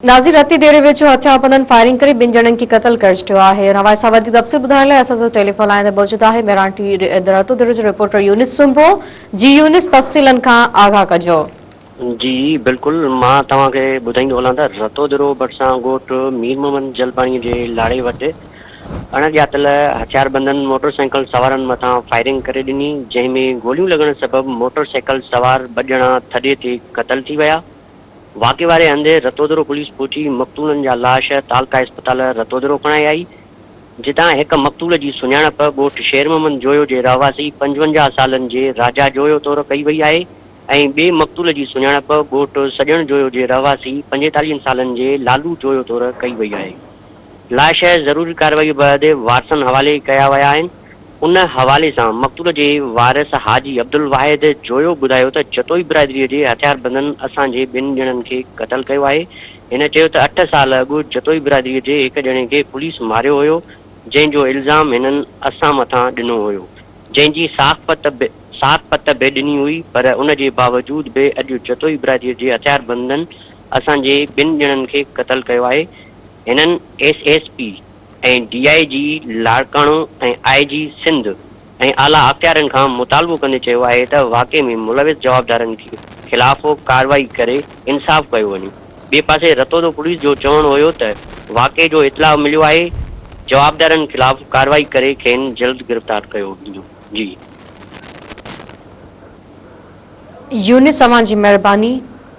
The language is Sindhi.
ناظر رتي ڊيري ويجهو هٿيار بندن فائرنگ ڪري ٻن ڄڻن کي قتل ڪري ڇڏيو آهي ان حوالي سان وڌيڪ تفصيل ٻڌائڻ لاء اسان سان ٽيليفون لائين تي موجود آهي ميران ٽي رتو ڊيري جو رپورٽر يونس سومرو جي يونس تفصيلن کان آگاهه ڪجو. جي بلڪل مان توهان کي ٻڌائيندو هلان ته رتو ڊيرو ڀرسان ڳوٺ مير محمد جلباڻي جي لاڙي وٽ اڻ ڄاتل هٿيار بندن موٽر سائيڪل سوارن مٿان فائرنگ ڪري ڏني جنهن ۾ گوليون لڳڻ سبب موٽر سائيڪل سوار ٻه ڄڻا ٿڏي تي قتل ٿي ويا. واقعي واري هنڌ رتودرو پوليس پهچي مقتولن جا لاش تعلقه اسپتال رتودرو کڻائي آئي، جتان هڪ مقتول جي سڃاڻپ ڳوٺ شير محمد جويو جي رهواسي پنجونجاهه سالن جي راجا جويو طور ڪئي وئي آهي ۽ ٻئي مقتول جي سڃاڻپ ڳوٺ سڄڻ جويو جي رهواسي پنجيتاليهن سالن جي لالو جويو طور ڪئي وئي آهي. لاء شيء ضروري ڪارروائيء بعد وارثن حوالي ڪيا ويا آهن. ان حوالي سان مقتول جي وارث حاجي عبدالواحد جويو ٻڌايو ته جتوئي برادريء جي هٿياربندن اسان جي ٻن ڄڻن کي قتل ڪيو آهي. هن چيو ته اٺ سال اڳ جتوئي برادريء جي هڪ ڄڻي کي پوليس ماريو هيو جنهن جو الزام هنن اسان مٿان ڏنو هيو جنهن جي ساک پت به ساک پت به ڏني هئي پر ان جي باوجود به اڄ جتوئي برادريء جي هٿياربندن اسان جي ٻن ڄڻن کي قتل ڪيو آهي. هنن S S P ۽ D I G Larkana ۽ I G Sindh ۽ اعليٰ اختيارين کان مطالبو ڪندي چيو آهي ته واقعي ۾ ملوث جوابدارن خلاف ڪارروائي ڪري انصاف ڪيو وڃي. ٻئي پاسي رتودو پوليس جو چوڻ هيو ته واقعي جو اطلاع مليو آهي، جوابدارن خلاف ڪارروائي ڪري کين جلد گرفتار ڪيو ويندو. جي. يونس اوهان جي مهرباني.